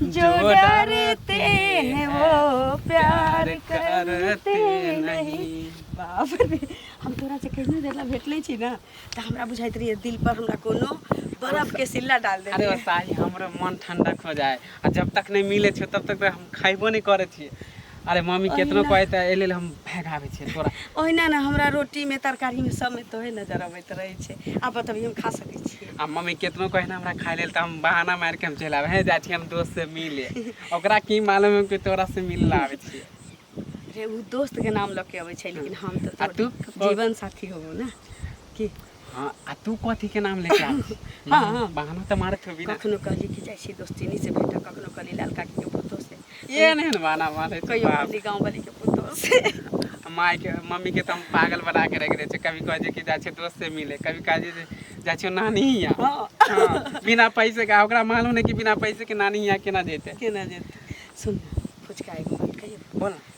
जो डरते हैं वो प्यार करते नहीं बाप रे हम तोरा से कहीं देला भेटले छी ना त हमरा बुझाइत रहिए दिल पर हमरा कोनो बर्फ के सिल्ला डाल दे अरे ओ साली हमरो मन ठंडक हो जाए आ जब तक नहीं मिले छे तब तक तो हम खाइबो नहीं करे छी अरे मम्मी केतनो ओहिना- कहै तऽ एहि लेल हम भगाबै छियै तोरा ओहिना ने हमरा रोटीमे तरकारीमे सबमे तोहे नजर अबैत रहै छै आब बतबियौ हम खा सकै छियै आ मम्मी केतनो कहै ने हमरा खाय लेल तऽ हम बहाना मारि के हम चलि आबै हे जाइ छी हम दोस्त से मिले ओकरा की मालूम है कि तोरा से मिले ला आबै छियै रे ओ दोस्तके नाम लऽ के अबै छै लेकिन हम तऽ आ तू? तोर जीवन साथी होबो ने की हाँ आ तू कथी के नाम लेके आल हाँ, हाँ। बहाना तो मारत होबी ना कखनो कहली कि जाइ छी दोस्तिनी से भेटऽ कखनो कहली लाल काकी के पुतो से ये नहीं ना बहाना मारे कहियो कहली गाँव वाली के पुतो से माय के मम्मी के तो हम पागल बना के रख दे छे कभी कह जे कि जा छे दोस्त से मिले कभी कह जे जा छे नानी हिया हाँ हाँ, बिना पैसे का ओकरा मालूम नहीं कि बिना पैसे के नानी हिया केना जेते केना जेते सुन ना फुचका एगो बात कहियो बोल ना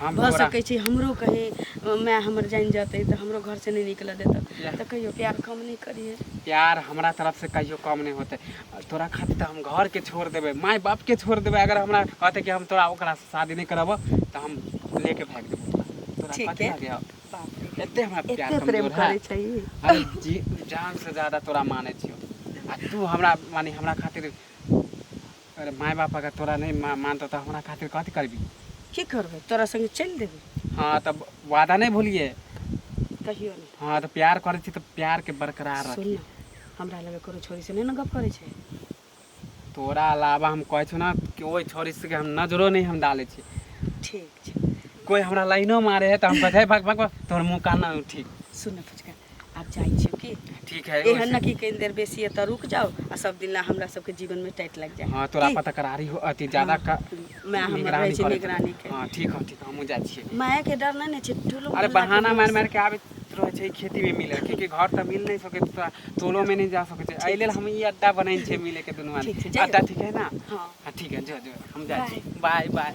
हम भऽ तोरा सकै छै हमरो कहीं अ, माय हमर जानि जेतै तऽ हमरो घर से नहि निकलऽ देतऽ Yeah. तऽ कहियो प्यार कम नहि करिहे प्यार हमरा तरफ से कहियो कम नहीं होते तोरा खातिर तो हम घर के छोड़ देबे माय बाप के छोड़ देबे अगर हमरा कहते कि हम तोरा ओकरा से शादी नहीं करब तो हम लेके भाग देबे ओकरा। तोरा ठीक कथी है। लगे अब? बाप रे एते हमरा प्यार एते प्रेम कमजोर है करै छै ई। अरे जी जान से ज्यादा तोरा माने छियो आ तू हमरा माने हमरा खातिर अरे माय बाप अगर तोरा नहीं मा- मानतो तो हमरा खातिर कथी करबी की करबै तोरा संगे चलि देबै हाँ तब वादा नहीं भूलिए कहियो नहि हाँ तो प्यार करे छी तो प्यार के बरकरार सुन रखी न, हमरा लगे कोनो छोरी से नहि ने गप करै छै तोरा अलावा हम कहै छौ ना कि ओहि छोरी से हम नजरो नहीं हम डाले छी ठीक छै कोई हमरा लाइनो मारे है तो हम कहते भग भग भग, तोहर मुंह कान ना ठीक सुन न फुचका आब जाइ छियौ की ठीक है एहन न की कहीं देर बेसी एतऽ रुक जाओ आ सब दिन ला हमरा सबके जीवन में टाइट लग जाए हां तोरा की? पता करारी हो अति ज्यादा हाँ, का मैं हमर निगरानी रहै छी करत। निगरानी के हां ठीक हो ठीक हमहु जाइ छियै माय के डर नहीं ने छै टुलु अरे बहाना मार मार के आबे रहे छै खेती में मिले क्योंकि घर त मिल नहीं सके तोरा टोलो में नहीं जा सके छै एहि लेल हम ई अड्डा बनै छै मिले के दुनू ठीक छै, आदमी जाइयो। अड्डा ठीक है ना हां हां ठीक है जो जो हम जाइ छी बाय बाय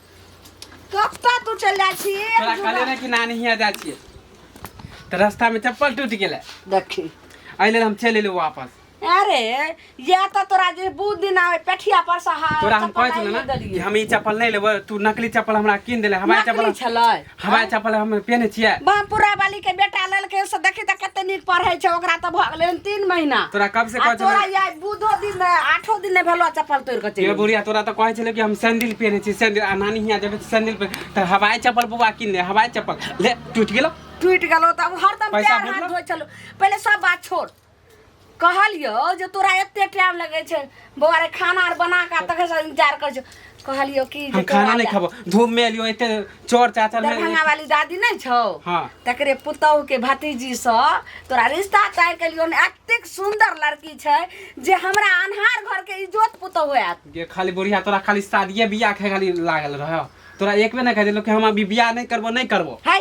कत्ता तू चल जाइ छी तोरा कहले ना कि नानी हिया जाइ छियै तऽ रास्ता में चप्पल टूट गेलै देखी एहि लेल हम चलि एलहुँ वापस अरे या तऽ तोरा जे बहुत दिन आवे पेठिया पर से हाथ तोरा हम कहै छलहुँ ना कि हम ई चप्पल नहि लेबै तू नकली चप्पल हमरा कीन देले हमारे नकली चप्पल छलै हवाई चप्पल हम पहने छियै बाप पूरा वाली के बेटा ललके से देखी त कते नीक पढ़ै छै ओकरा त भ गेलै तीन महीना तोरा कब से आ कहै तोरा छलै या बुधो दिन ने आठो दिन ने भेलो चप्पल तोड़ के ये चलि बुढ़िया तोरा तो कहै छलै कि हम सैंडल पहने छी सैंडल आ नानी हियाँ जेबै तऽ सैंडल पे तऽ हवाई चप्पल बौआ किन ले हवाई चप्पल ले टूटि गेलो टूटि गेलो त हरदम पैसा पैर हाथ भेटलो? धोइ छलो पहिले सब बात छोड़ कहलियो जे तोरा एते टाइम लगे छै बौआ रे खाना आर बना के तखन से इंतजार कर छो कहलियो कि जे हम तोरा खाना नहीं ले- खाबो धूप में एलियो एते चोर चाचर में दरभंगा वाली दादी नहीं छौ हाँ। तकरे पुतोहु के भतीजी सँ तोरा रिश्ता तय केलियो ने एतेक सुंदर लड़की छै जे हमरा अन्हार घर के इज्जत पुतोहु होयत ये खाली बुढ़िया तोरा खाली शादिये बियाह के खाली लागल रह तोरा एक बेर नहीं कह देलो कि हम अभी बियाह नहीं करबो नहीं करबो है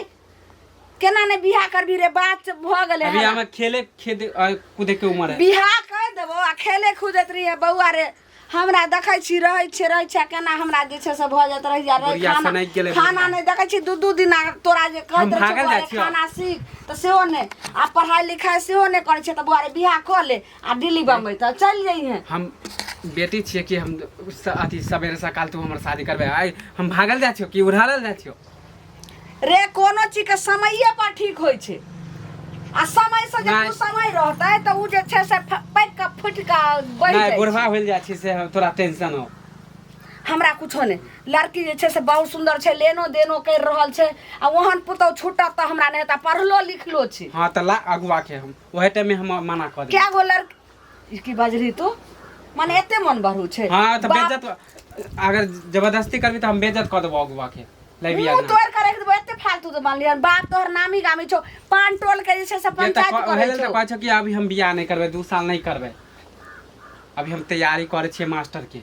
केना ने बियाह करबी रे बात से भ गेले अभी है हमें खेले खेदे आ, कूदे के उम्र है बियाह कर देबो आ खेले खुदैत रही है बौआ रे हमरा देखै छी रहै छै रहै छै केना हमरा जे छै से भऽ जाइत रहि जा रहै बुढ़िया खाना सनैक गेलै खाना बुढ़िया। नहि देखै छी दू दू दिन आ तोरा जे कहैत हम रहै भागल छौ जाइ बौआ रे छियौ। खाना सीख तऽ सेहो नहि आ पढ़ाइ लिखाइ सेहो नहि करै छै तऽ बौआ रे बियाह कऽ ले आ दिल्ली बम्बई तऽ चलि जइहे हम बेटी छियै कि हम स- अथी सवेरे सकाल तू हमर शादी करबे आइ हम भागल जाइ छियो कि उड़ालल जाइ छियो रे कोनो चीज के समये पर ठीक होइ छै आ समय से जे नहि। समय रहतै तऽ उ जे छै से फ- पैक के फुटि के बढ़ि नहि जाइ बुढ़वा छै होइल जाइ छै से हम तोरा टेंशन हो हमरा कुछो नहि लड़की जे छै से बहुत सुंदर छै लेनो देनो कर रहल छै आ ओहन पुतौ छूटत तऽ हमरा नहि हेतै पढ़लो लिखलो छै हाँ तऽ ला अगुआ के हम ओहे टाइम में हम मना कर देब कए गो लड़की ई की बाजली तू माने एते मन बहरू छै हाँ तो बाप- बेइज्जत अगर जबरदस्ती करबी तो हम बेइज्जत कर देबो अगुआ के लैबी मुंह आगे तोड़ करे के देबो एते फालतू तो मान लिया बाप तोहर नामी गामी छौ पान टोल के जे छै से पंचायत करे छौ कहै छौ कि अभी हम बियाह नहीं करबे दू साल नहीं करबे अभी हम तैयारी करे छियै मास्टर के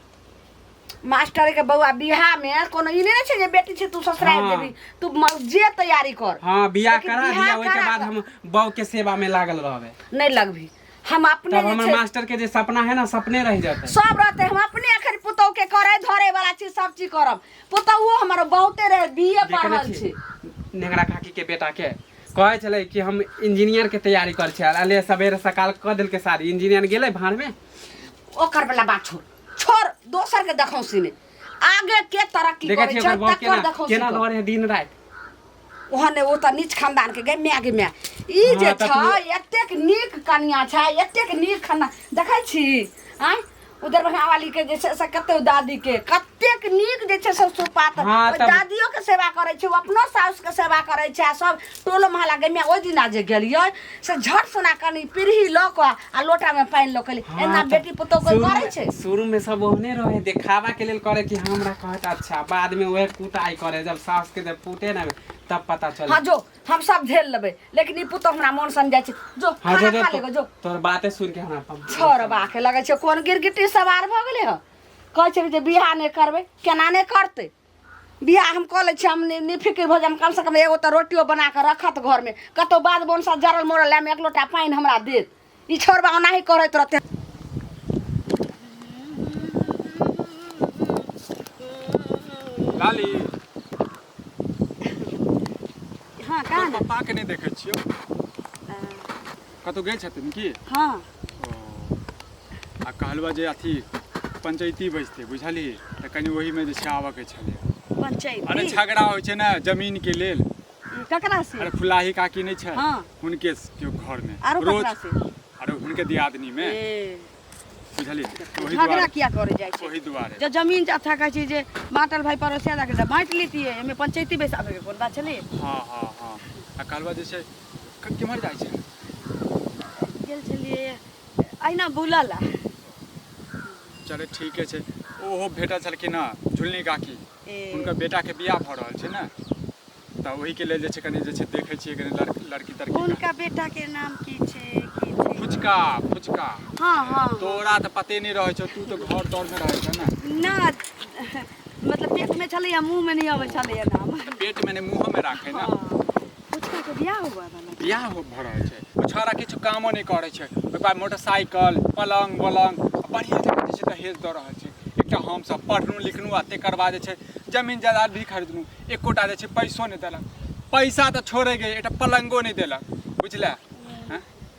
मास्टर के बौआ बियाह में कोनो ई नहि ने छै जे बेटी छै तू ससुराल हाँ। देबी तू म- जे तैयारी कर हाँ बियाह लेकिन करा बियाह दिया ओहिके करा बाद कऽ। हम बहू के सेवा में लागल रहबे नहि लगबी हम अपने तब जे हमर छै- मास्टर के जे सपना है ना सपने रह जाते सब रहते हम अपने अखन पुतोह के करे धरे वाला चीज सब चीज करब पुतोहुओ हमर बहुते रहे बीए देखने पढ़ल छी। छी नेंगरा काकी के बेटा के कहै छलै कि हम इंजीनियर के तैयारी करै छी अले सवेरे सकाल कऽ देलकै शादी इंजीनियर गेलै भाड़ में ओकर वाला बात छोड़ छोड़ दोसर के देखौसी ने आगे के तरक्की देखै करे छी ओकर छै बहू तकर केना देखौसी केना कर। लड़ै है दिन राति ओहने ओ तऽ नीच खानदान के गए माय के माय ई जे हाँ, तऽ छै एतेक नीक कनिया छै एतेक नीक खानदान देखै छी आय ओ दरभंगा वाली के जे छै से कते ओ दादी के कतेक नीक जे छै से सुपात हाँ, ओहि तऽ- दादियो के सेवा करै छै ओ अपनो साउस के सेवा करै छै आ सब टोलो महला गए माय ओहि दिना जे गेलियै से झट सोना कनी पीढ़ी लऽ कऽ आ लोटा में पानी लऽ के हाँ, एना बेटी पुतोह कोई शुरू करे में- छै शुरू में सब ओहने रहे देखावा के लेल करे कि हमरा कहत अच्छा बाद में वह कुटाई करे जब सास के जब फूटे ना तब पता चले हाँ जो हम सब झेल लेबै लेकिन ई पुतोह हमरा मन सन जाइ छै जो हाँ, खाना जो- खा जो- लेगो जो तोर बाते सुन के हमरा पम- छोर बाके लगै छै कोन गिरगिटी सवार भऽ गेलै हँ कहै छै जे बियाह नहि करबै केना नहि करतै बियाह हम कऽ लै छी हम नि- निफिकिर भऽ जायब कम से कम एगो तऽ रोटियो बना कऽ रखत घरमे कतौ बाद बोनसा जरल मोरल लाइमे एक लोटा पानि हमरा देत ई छोड़बा ओनाही करैत रहतै लाली हँ कहाँ ने पापा के नहीं देखे छियो कतहु गेल छथिन की हँ ओ आ कहलबा जे अथी पंचायती बैजते बुझलिही तऽ कनि ओहिमे जे छै आबऽके छलै अरे पंचायती झगड़ा होइ छै ने जमीनके लेल ककरा से अरे फुलाही काकी नहि छै हँ। हुनके के घरमे आरो रोज ककरा से अरे हुनके दियादनीमे ए बुझलियै तऽ ओही झगड़ा दुआरे किया करे जाइ छै ओही दुआरे जब जमीन जात है कहै छै जे बाँटल भाई पड़ोसिया जाके तऽ बाँटि लेतियै एहिमे पंचायती बैसाबे के कोन बात छलै हँ हँ हँ आ कहलबा जे छै क- केम्हर जाइ छै गेल छलियै अहिना बुलऽ ला चले ठीके छै ओहो भेटल छलखिन हँ झुलनी काकी हुनकर बेटाके बियाह भऽ रहल छै ने तऽ ओहिके लेल जे छै कनि जे छै देखै छियै कनि लड़की लड़की तड़की हुनका बेटाके नाम की छै की छै फुचका फुचका हँ हँ तोरा तऽ पते नहि रहै छौ तू तऽ घर दौड़मे रहै छौ ने ना मतलब पेटमे छलैए मुँहमे नहि अबै छलैए नाम पेटमे नहि मुँहमे राखै ने हँ पुचकाके बियाह हुआ बला बियाह हो भऽ रहल छै ओ छौड़ा किछु कामो नहि करै छै ओहि बाद मोटरसाइकिल पलङ्ग वलङ्ग बढ़िआँ जकाँ जे छै दहेज दऽ रहल छै एकटा हमसभ पढ़लहुँ लिखलहुँ आ तकर बाद जे छै जमीन जायदाद भी खरीदलहुँ एकोटा जे छै पैसो नहि देलक पैसा तऽ छोड़े गए एकटा पलङ्गो नहि देलक बुझलए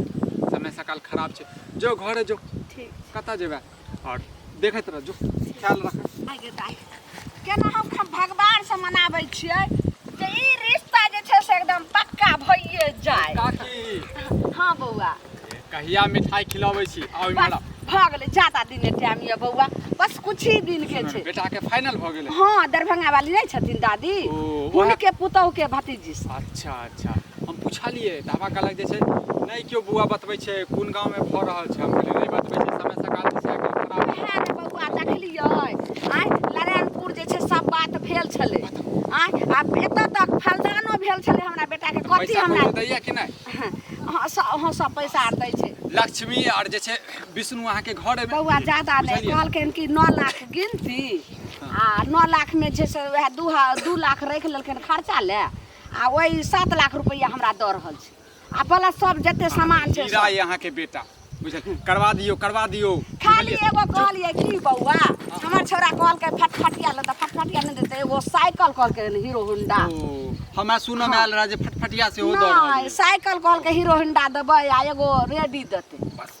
समय सकाल खराब छै जो घरे जो ठीक कतऽ जेबै आओर देखैत रह जो ख्याल रख आगे दाइ केना हम खम भगवान से मनाबै छियै जे ई रिश्ता जे छै से एकदम पक्का भइए जाय काकी हाँ बौआ कहिया मिठाई खिलाबै छी आउ बस इमहर भऽ गेलै ज्यादा दिन के टाइम यऽ बौआ बस कुछ ही दिन के छै बेटा के फाइनल भऽ गेलै हाँ दरभंगा वाली नहीं छथिन दादी ओ, ओहे- उनके पुतोह के भतीजी से। अच्छा अच्छा हम पुछलियै तऽ हमरा कहलक जे छै नहि केओ बौआ बतबै छै कोन गाँवमे भऽ रहल छै हम कहलियै नहि बतबै छै समय सकाल जे छै एखन खराब छै। वएह ने बौआ देखलियै आइ नारायणपुर जे छै सब बात भेल छलै आइ आ एतऽ तक फलदानो भेल छलै हमरा बेटाके कथी पैसा हमरा कौड़ी दैया कि नहि हँ सब हँ, सब पैसा आर दै छै लक्ष्मी आर जे छै विष्णु अहाँके घर एबै बौआ ज्यादा नहि बुझलियै? कहलखिन कि नओ लाख गिनती आ नओ लाखमे छै से वएह दू हा- दू लाख राखि लेलखिन खर्चा लए आ ओहि सात लाख रुपैआ हमरा दऽ रहल छै आ प्लस सब जते सामान छै हीरा सब। ये अहाँके बेटा बुझल करवा दियौ करवा दियौ खाली बुझलियै? एगो कहलिए की बौआ हमर छोरा कहलकै फटफटिया ले तऽ फटफटिया नहि देतै एगो साइकिल कहलकै हीरो होंडा ओ हमरा सुनऽ मे आयल रहा जे फटफटिया सेहो दऽ रहल नहि ये। साइकिल कहलकै हीरो होंडा देबै आ एगो रेडी देतै बस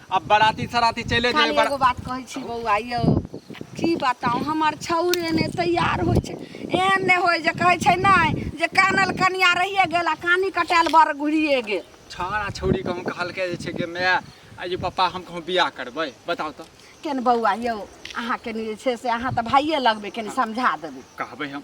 अब बराती सराती चले जाए खाली बड़ा एगो बात कहै छी बौआ यौ की बताउ हमर छौरे ने तैयार होइ छै एहन नहि होइ जे कहै छै नहि जे कानल कनिया रहिए गेल आ कानी कटायल बर घुरिए गेल छाड़ा छौड़ी कहूँ कहलकै जे छै कि माय आ ये पप्पा हम कहूँ बियाह करबै बताउ तऽ केन बौआ यौ अहाँ कनि जे छै से अहाँ तऽ भाइये लगबै कनि समझा देबै कहबै हम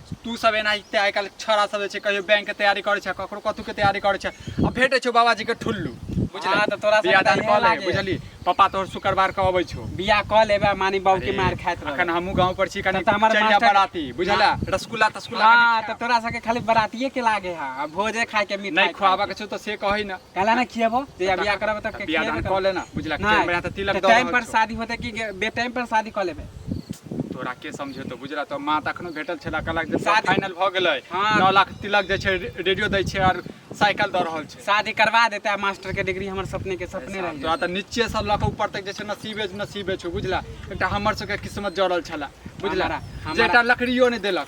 तू सब एना इते आइ काल्हि छौड़ा सब जे छै कहियो बैंक के तैयारी करै छै ककरो कथू के तैयारी करै छै आ भेटै छौ बाबाजी के ठुल्लू बुझला हाँ, तऽ तोरा सबके बियाह दान तऽ इहे कऽ ले लागे। बुझली पापा तोहर शुक्रवार के अबै छौ बियाह कऽ लेबे मानी बाबू के मार खाइत अखन रहबे हमहूँ गाँव पर छी कनी तब तऽ हमर चल जा मास्टर- बराती बुझला रसगुल्ला तसगुल्ला हाँ कनी तऽ तोरा सबके खाली बरातिये के लागे है आ भोजे खाए के मिठाई नहीं खाए खुआबा के। के छौ तो से कही ना काला ना खियाब जहिया बियाह करब तब के बियाह खियाबे दान कऽ लेना बुझला के नहीं, मेरा त तिलक तो दऽ टाइम रहल पर छौ। शादी होते कि बे टाइम पर शादी कऽ लेबे तोरा के समझेतो बुझला तो माँ त अखनो भेटल छला कहलक जे सब शादी- फाइनल भ गेलै हाँ। 9 लाख तिलक जे छै रे- रेडियो दै छै और साइकिल द रहल छै शादी करवा देते आ मास्टर के डिग्री हमर सपने के सपने रह तोरा त नीचे से लऽ के ऊपर तक जे छै नसीबे नसीबे छौ बुझला एकटा हमर सबके किस्मत जड़ल छला बुझला हमरा- हमरा- जेटा लकड़ियो नहि देलक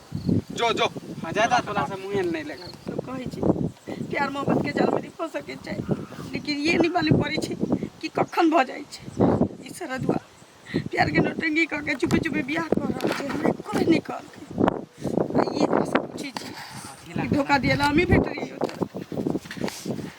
जो जो हाँ ज्यादा तोरा से मुँहे नहीं लगा तो कहै छी प्यार मोहब्बत के जाल में नहीं फंस सके छै लेकिन ये नहीं मालूम पड़े छै कि कखन भ जाय छै ई सरदुआ प्यार के नौटंगी क के चुपे चुपे बियाह कर रहल छै हमरा कोई नहीं कहलकै आ ये हमरा से पूछै छी कि धोखा दिया ला हमी भेट रही हो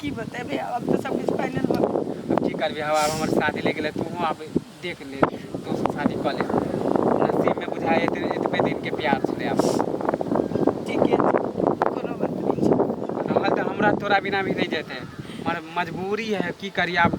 की बतेबे अब तो सब कुछ फाइनल बा अब की करबे हवा अब हमर शादी ले गेले तू अब देख ले तो शादी कर ले नसीब में बुझाए इतने इतने दिन के प्यार छले अब ठीक है कोनो बात नहीं रहल तो हमरा तोरा बिना भी नहीं जेते मगर मजबूरी है की करी अब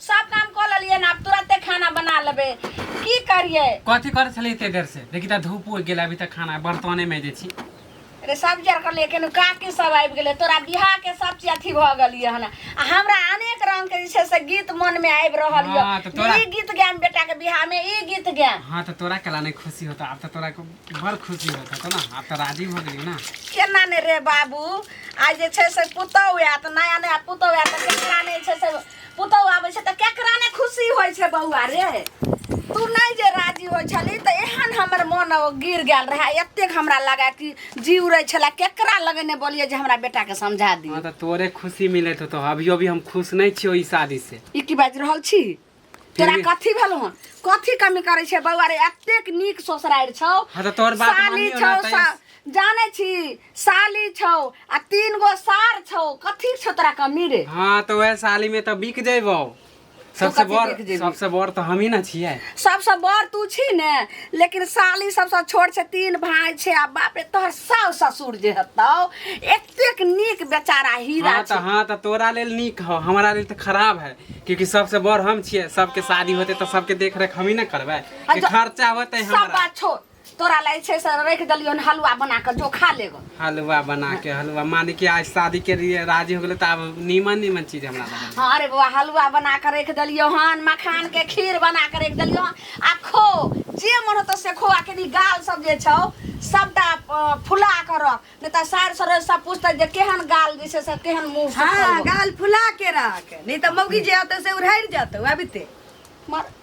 सब काम कऽ लेलियै ने आब तुरते खाना बना लेबै की करियै कथी करै छलै एते देर से देखी तऽ धूप उगि गेलै अभी तक खाना बर्तने में जे छी रे सब्जी आर करलियै केनु काकी सब आबि गेलै तोरा बियाह के सब चीज अथी भऽ गेलियै हन आ हमरा अनेक रंग के जे छै से गीत मन में आबि रहल यऽ हाँ, तऽ जे तोरा- ई गीत गायब बेटा के बियाह में ई गीत गायब हाँ तो तोरा कला नहीं खुशी होता अब तो तोरा को बड़ खुशी होता तो ना अब तो राजी हो गई ना केना ने रे बाबू आ जे छै से पुतहु आयत नया नया पुतहु आयत तऽ केकरा नहि छै से पुतहु आबै छै तऽ केकरा ने खुशी होइ छै बौआ रे तू नहि जे राजी होइ छली तऽ एहन हमर मोन ओ गिर गेल रहए एतेक हमरा लगा कि जी उड़ै छलए केकरा लगे ने बोलिए जे हमरा बेटाके समझा हँ दिए तऽ तोरे खुशी मिलैत होतो अभियो भी हम खुश नहि छियो ई शादी से ई की बाजि रहल छी तोरा भी- कथी भेल हन कथी कमी करै छै बौआ रे एतेक नीक ससुरारि छौ हँ तऽ तोहर बात साली मानियो छौ ना तऽ सा- जाने छी साली छौ आ तीन गो सार छौ कथी छौ तोरा कमी रे हाँ तो वह साली में तो बिक जेबो सबसे कथी बड़ बिक जेबही? सबसे बड़ तो हम ही ना छिए सबसे बड़ तू छी ने लेकिन साली सबसे छोट छै तीन भाई छै आ बाप रे तोहर सास ससुर जे हतौ एतेक नीक बेचारा हीरा हाँ तो छै हाँ तो तोरा लेल नीक हो हमारा लेल तो खराब है क्योंकि सबसे बड़ हम छिए सबके शादी होते तो सबके देख रेख हम ही ना करबे आ कि जो- खर्चा होते सब हमारा बात छोड़ तोरा ला जे छै से रखि देलियौ हन हलुआ बना कऽ जो खा ले गऽ हलवा बना के हलवा मान के आज शादी के लिए राजी हो गेले तो अब नीमन नीमन चीज हमरा ला बना। हाँ अरे बौआ हलुआ बना कऽ रखि देलियौ हन मखान के खीर बना कऽ रखि देलियौ हन आ खो जे मन होतौ से खो आ कनि गाल सब जे छौ सबटा अ, फुला कऽ रख नहि तऽ सार सरोज सब पूछतै जे केहन गाल जे छै से केहन मुँह हाँ सुखल बा। गाल फुला के रख नहीं तो मौगी जे आते से उड़ाइर जाते अबिते मर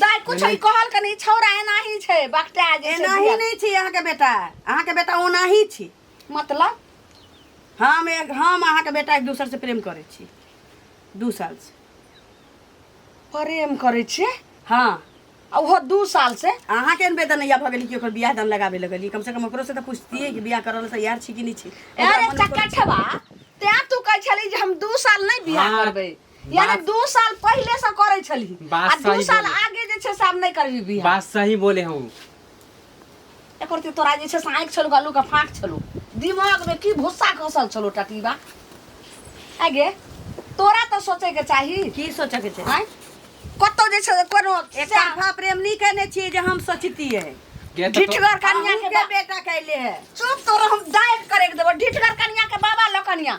दाय कुछ ई कहल के नहीं छौरा एना ही छै बकटा जे छै एनाही बिया। नहीं छी अहाँ के बेटा अहाँ के बेटा ओनाही छी मतलब हम एक हम अहाँ के बेटा एक दूसर से प्रेम करे छी दू साल से प्रेम करे छे हाँ आ ओहो दू साल से अहाँ के बेदन या भऽ गेली कि ओकर बियाह दान लगाबे लगली कम से कम ओकरो से तऽ पूछतियै कि बियाह करल से यार छी कि नहीं छी ओकरा अरे मन में कोनो- चकठवा ते तू कह छली जे हम दू साल नहीं बियाह हाँ, करबे यानी बात- दू साल पहिले से करे छली बात आ दू सही साल बोले। आगे जे छै से आब नहि करबी बियाह बात सही बोले हो एक रति तोरा जे छै से आँखि छलौ गलू के फाँक छलौ दिमाग में की भूसा खसल छलौ टटीबा आगे तोरा तऽ सोचे के चाही की सोचऽ के छै आँय? कतौ जे छै से कोनो एक तरफा प्रेम नहीं कहने छिए जे हम सोचतिए गे तऽ तो- ढिठगर कन्या के के बा- बेटा कैले है चुप तोरा हम डाइट करे के देबो ढिठगर कन्या के बाबा लकनिया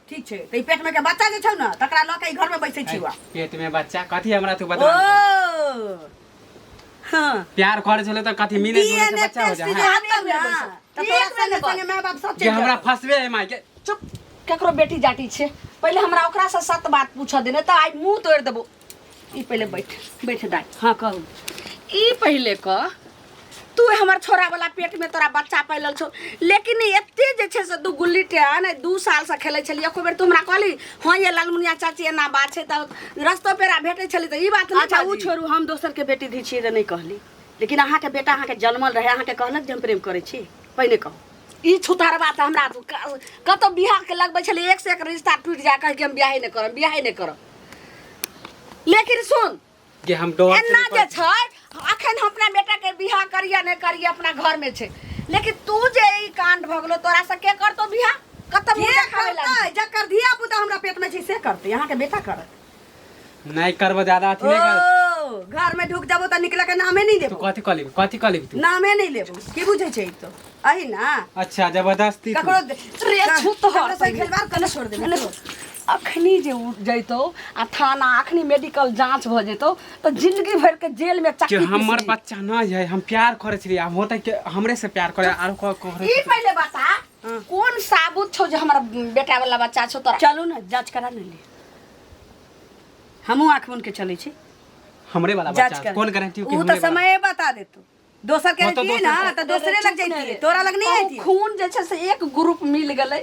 ठीक छै तऽ ई पेट में के बच्चा जे छौ ने तकरा लऽ के ई घर में बैठे छी हुआ पेट में बच्चा कथी हमरा तू ओ बता हाँ प्यार करे छले त कथी मिले जुले से बच्चा हो जा हाँ। हाँ, तब ना। तऽ तोरा संगे संगे माय बाप सब जे चलि हमरा फसबे है माय के चुप केकरो बेटी जाटी छै पहिले हमरा ओकरा से सत बात पूछऽ देने तऽ आइ मुंह तोड़ि देबो ई पहिले बैठ बैठ दाई हाँ कहू ई पहिले कह तू हमर छोरा वाला पेट में तोरा बच्चा पैलल छौ लेकिन एते जे छै से दू गुल्ली टेन दू साल से खेलै छलियै एको बेर तू हमरा कहली हाँ ये लालमुनिया चाची एना बात छै तऽ रस्तो पेरा भेटै छली तऽ ई बात नहि अच्छा ओ बाजी। छोड़ू हम दोसर के बेटी धी छियै तऽ नहि कहली लेकिन अहाँके बेटा अहाँके जन्मल रहै अहाँके कहलक जे हम प्रेम करै छी पहिने कहू ई छुतहरबा तऽ हमरा तू क- कतौ बियाह के लगबै छलियै एक से एक रिश्ता टूटि जाए कहै कि हम बियाहे नहि करब बियाहे नहि करब लेकिन सुन जे हम डर एना जे छै अखन हम अपना बेटा के बियाह करिया नहीं करिया अपना घर में छै लेकिन तू जे ई कांड भ गेलो तोरा से के करतो बियाह कतम जे मुंह खावे करतै लागी जकर धिया पुता हमरा पेट में छै से करतै यहाँ के बेटा करत नहीं करबो ज्यादा अथी नहीं कर ओ घर में ढुक जाबो त निकले के नामे नहीं तू देबो कथी कह लेबी कथी कह लेबी तू नामे नहीं लेबो की बुझे छै ई तो अही ना अच्छा जबरदस्ती तू। ककरो दे- रे का- छूत तो हर ककरो से पहिले। खेलबार कने छोड़ देबे कने अखनी जे उठ जैतो आ थाना अखनी मेडिकल जांच भ जैतो तो जिंदगी भर के जेल में कि चक्की हमर पीसली। बच्चा नहीं है हम प्यार करे छलिए हम होते के हमरे से प्यार करे आरो को करे ई पहिले बता कोन साबुत छौ जे हमरा बेटा वाला बच्चा छौ तोरा चलू ने जांच करा ने ले हमहूँ आँख बन के चलै छी हमरे वाला जांच बच्चा कर कोन गारंटी कि ऊ हमरे तऽ वाला- समय बता देतो दोसर के हाँ, तो रहतियै ना दोसर- तऽ दोसरे लग चुप ना जैतियै रे। तोरा लग नहि कहूँ अइतियै खून जे छै से एक ग्रुप मिल गेलै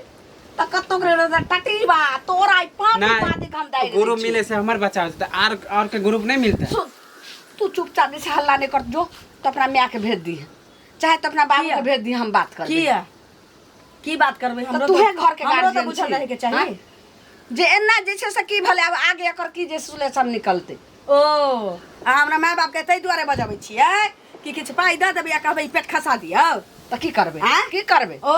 तऽ कतौ के रहतै टटी बा तोरा ई पाँच ना पाँच के हम दाइ ग्रुप मिले से हमर बच्चा हो जेतै आर आर के ग्रुप नहीं मिलता सुन तू चुपचाप जे छै हल्ला नहि कर जो तो अपना माय के भेज दी चाहे तो अपना बाबू किया? के भेज दी हम बात कर किया की बात करबै तऽ हमरो तूहे घर के हमरो तऽ गार्जियन बुझल रहै के चाही जे एना जे छै से की भले आब आगे एकर की जे सुलेशन निकलतै ओ आ हमरा माय बाप के ताहि दुआरे बजबै छियै कि किछु पाइ दऽ देबै आ कहबै ई पेट खसा दियौ तऽ की करबै आँय? की करबै ओ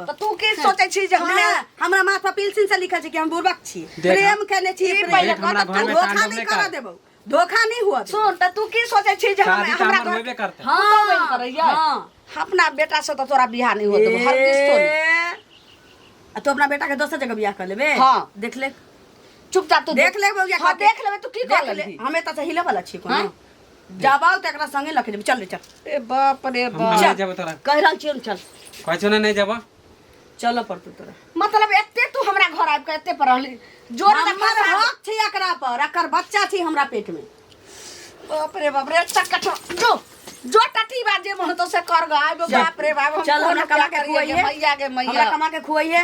तऽ तू की सोचै छी जे हमे हमरा हमरा माथ पर पिलसिन से लिखल छै कि हम बुर्बक छी देख, प्रेम केने छी ई प्रेम। पहिले देख, हमरा कहत, घर तू में धोखा तांडव नहीं नहीं करऽ कर। देबौ धोखा नहीं हुआ देबौ। सुन तऽ तू की सोचै छी जे हम शादी तऽ हमरा हमर घर होइबे करतै। हाँ, तू बहिन करैया? हाँ। अपना बेटा से तऽ तोरा बियाह नहीं होत हर किस तो नहीं। ए, आ तू अपना बेटा के दोसर जगह बियाह कर लेबे हाँ। देख ले चुपचाप तू देख ले बौआ हां देख लेबे तू की कर ले हमें त हिले वाला छी को हाँ? जाबाओ त एकरा संगे लख देबे चल रे चल ए बाप रे बाप चल जाबो तोरा कह रहल छी चल कहछो ना नहीं जाबो चल पर तू तोरा मतलब एते तू हमरा घर आब के एते पर रहली जोर से हमर हक छी एकरा पर एकर बच्चा छी हमरा पेट में बाप रे बाप रे चक्का जो जो टटी बाजे मन तो से कर गा आबो बाप रे बाप चल हमरा कमा के खुआइए मैया के मैया हमरा कमा के खुआइए